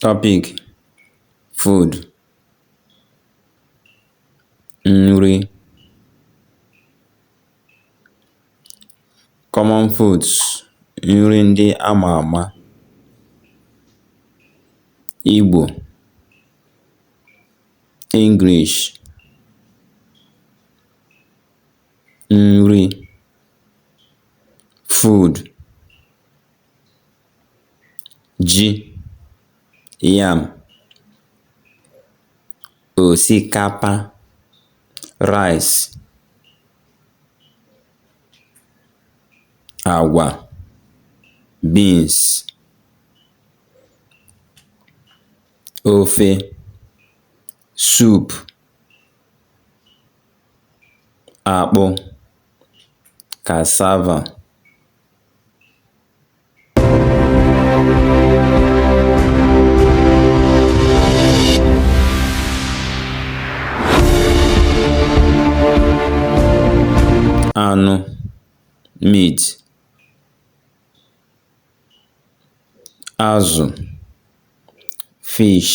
Topic: Food nri Common foods nri ndị a ma ama Igbo English nri food ji yam òsikapa rice àgwà beans ofe soup akpụ cassava anụ meat azụ fish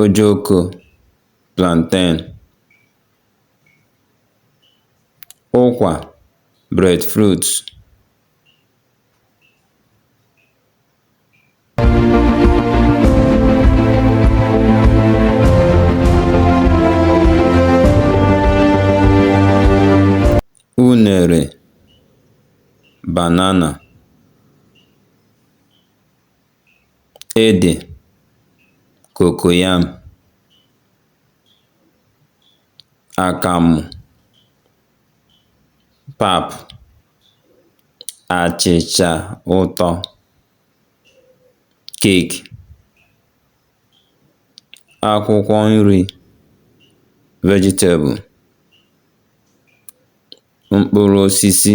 ojokō plantain ụkwà bread fruit unèrè banana ede, cocoyam, akamụ, pap, achịcha ụtọ, keeki, akwụkwọ nri, vegetable, mkpụrụ osisi.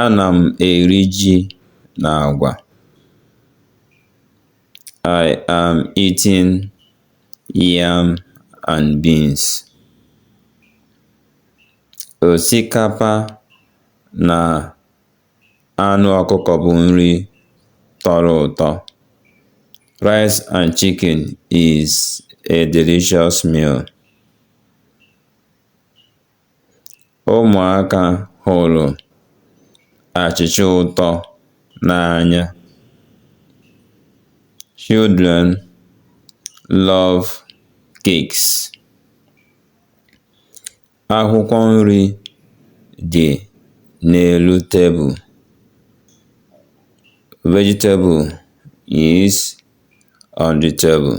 A na m eri ji na agwa I am eating yam and beans. Osikapa na anụ ọkụkọ bụ nri tọrọ ụtọ. Rice and chicken is a delicious meal. Ụmụaka hụrụ achịcha ụtọ n'anya. Children love cakes. Akwụkwọ nri dị n'elu tebụl. Vegetable is on the table.